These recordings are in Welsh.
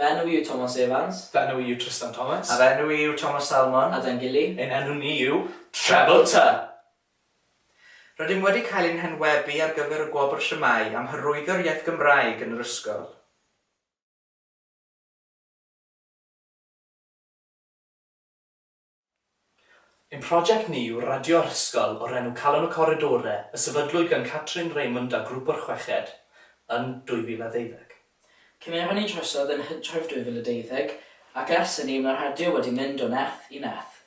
Fy enw i yw Tomos Evans. Fy enw i yw Trystan Thomas. A fy enw i yw Tomos Salmon. A dan gili. Ein enw ni yw Treble Tŷ! Rydym wedi cael ein henwebu ar gyfer y gwobr Shwmae am hyrwyddo'r iaith Gymraeg yn yr ysgol. Ein prosiect ni yw radio'r hysgol o'r enw Calon y Coridore y sefydlwyd gan Catrin Raymond a Grŵp o'r Chweched yn 2012. Cymerwn ni drosodd yn Hydref 2012 ac ers hynny mae'r radio wedi mynd o nerth i nerth.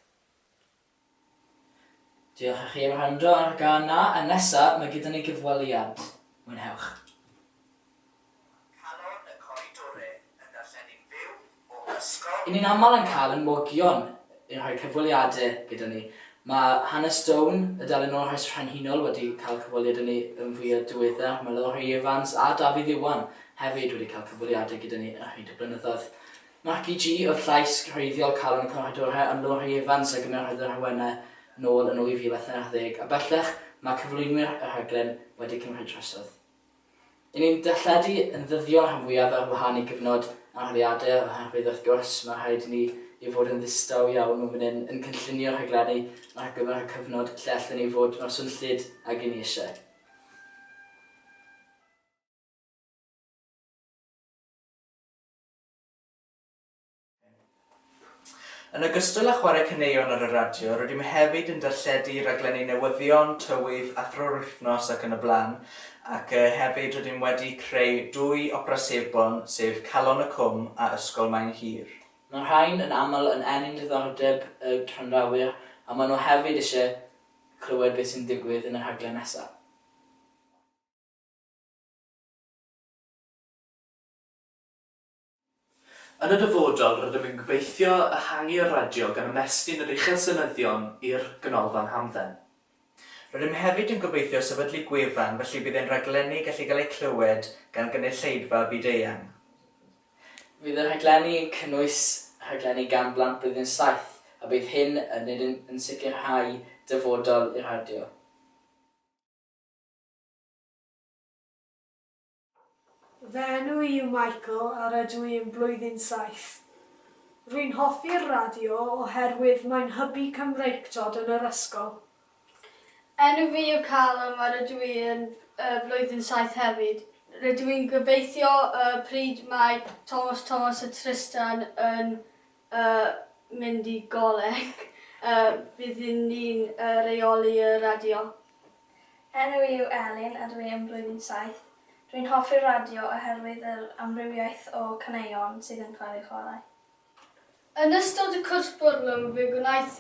Diolch i chi am wrando ar y gân 'na a nesa mae gyda ni gyfweliad. Mwynhewch. calon y coridore yn darllenu'n fyw o ysgol. Y'n ni'n aml yn cael yn mogion yn rhoi cyfweliade gyda ni. Mae hanes Stone, y dalen olrhain frenhinol wedi cael cyfweliad â ni yn fwyaf diwedda. Mae Lowri Evans a Dafydd Iwan hefyd wedi cael cyfweliade gyda ni yn rhyd y blynyddoedd. Marci G oedd llais gwreiddiol calon y coridore ond Lowri Evans a gymerodd yr awenau nôl yn 2013 a bellach mae cyflwynwyr y rhaglen wedi cymryd drosodd. Dyn ni'n darlledu yn ddyddiol rhan fwyaf ar wahân i gyfnod anafiadau oherwydd wrth gwrs mae rhaid i ni i fod yn ddistaw iawn o fan hyn yn cynllunio rhaglenni ar gyfer y cyfnod lle allen ni fod mor swnllyd ag i ni eisiau. Yn ogystal â chwarae caneuon ar y radio, rydym hefyd yn darlledu rhaglenni newyddion, tywydd, athro'r wythnos ac yn y blaen, ac hefyd rydym wedi creu dwy opera sebon, sef Calon y Cwm a Ysgol Maen Hir. Mae'r rhain yn aml yn ennyn diddordeb y gwrandawyr a maen nhw hefyd eisiau clywed beth sy'n digwydd yn y rhaglen nesaf. Yn y dyfodol, rydym yn gobeithio ehangu'r radio gan ymestyn yr uchelsynyddion i'r Ganolfan Hamdden. Rydym hefyd yn gobeithio sefydlu gwefan felly bydd ein rhaglenni gallu cael eu clywed gan gynulleidfa byd-eang. Bydd y rhaglenni yn cynnwys rhaglenni gan blant Blwyddyn Saith a bydd hyn yn nid yn yn sicrhau dyfodol i'r radio. Fy enw i yw Michael a rydw i yn blwyddyn saith. Rwy'n hoffi'r radio oherwydd mae'n hybu Cymreictod yn yr ysgol. Enw fi yw Callum a rydw i yn blwyddyn saith hefyd. Rydw i'n gobeithio y pryd mae Tomos Tomos a Trystan yn a mynd i goleg, a byddwn ni'n rheoli y radio. Enw i yw Elin a dw i yn blwyddyn saith. Dw i'n hoffi'r radio oherwydd yr amrywiaeth o caneuon sydd yn cael eu chwarae. Yn ystod y cwrs bwrlwm fe gwnaeth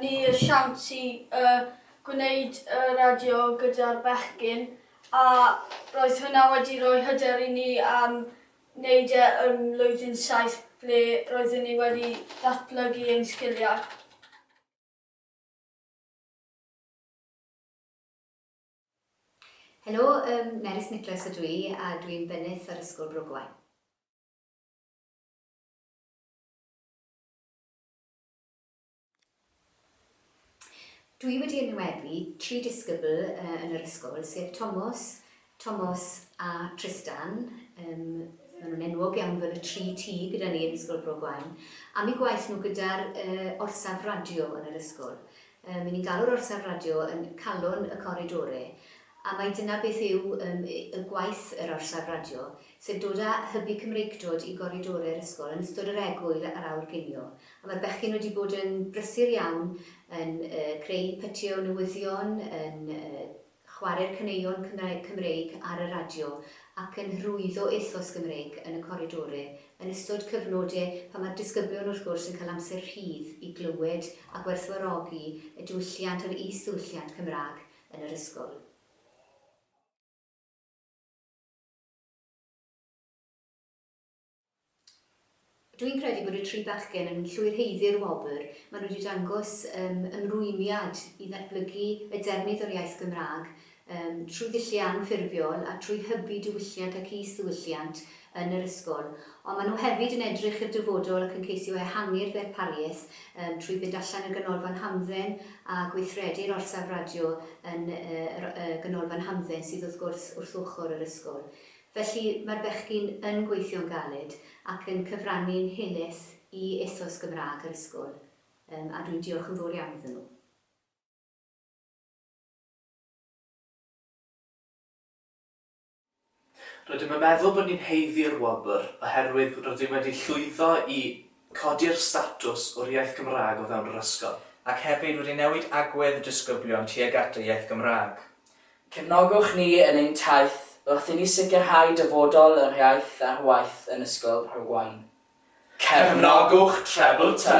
ni y siawns i gwneud y radio gyda'r bechgyn a roedd hwnna wedi rhoi hyder i ni am wneud e yn Mlwyddyn Saith ble roeddwn i wedi datblygu ein sgiliau. Helo, yym, Nerys Nicholas ydw i a dwi'n bennyth ar Ysgol Brogwaun. Dwi wedi enwebu tri disgybl yn yr ysgol, sef Tomos, Tomos a Tristan, yym maen nhw'n enwog iawn fel y tri T gyda ni yn Ysgol Bro Gwaun, am eu gwaith nhw gyda'r yy orsaf radio yn yr ysgol. Yym 'yn ni'n galw'r orsaf radio yn 'calon y coridore', A mai dyna beth yw ym y gwaith yr orsaf radio, sef dod a hybu Cymreictod i goridore'r ysgol yn ystod yr egwyl a'r awyr ginio. A mae'r bechgyn wedi bod yn brysur iawn yn yy creu pytio newyddion, yn yy chware'r caneuon Cymra- Cymreig ar y radio, ac yn hyrwyddo ethos Gymreig yn y coridore yn ystod cyfnode pan mae'r disgyblion wrth gwrs yn cael amser rhydd i glywed a gwerthfawrogi y diwylliant a'r is-ddiwylliant Cymraeg yn yr ysgol. Dwi'n credu bod y tri bachgen yn llwyr heiddi'r wobr, maen nhw wedi dangos um, ymrwymiad i ddatblygu y defnydd o'r iaith Gymraeg um, trwy ddulliau anffurfiol a trwy hybu diwylliant ac is-ddiwylliant yn yr ysgol, ond maen nhw hefyd yn edrych i'r dyfodol ac yn ceisio ehangu'r ddarpariaeth yym trwy fynd allan i'r ganolfan hamdden a gweithredu'r orsaf radio yn yr yy ganolfan hamdden sydd wrth gwrs wrth ochr yr ysgol. Felly, mae'r bechgyn yn gweithio'n galed ac yn cyfrannu'n helaeth i ethos Gymraeg yr ysgol yym a dwi'n diolch yn fawr iawn iddyn nhw. Rydym yn meddwl bod ni'n haeddu'r wobr oherwydd rydym wedi llwyddo i codi'r statws o'r iaith Gymraeg o fewn yr ysgol. Ac hefyd wedi newid agwedd y disgyblion tuag at y iaith Gymraeg. Cefnogwch ni yn ein taith wrth i ni sicrhau dyfodol yr iaith ar waith yn Ysgol Rhywain. Cefnogwch Treble Tŷ!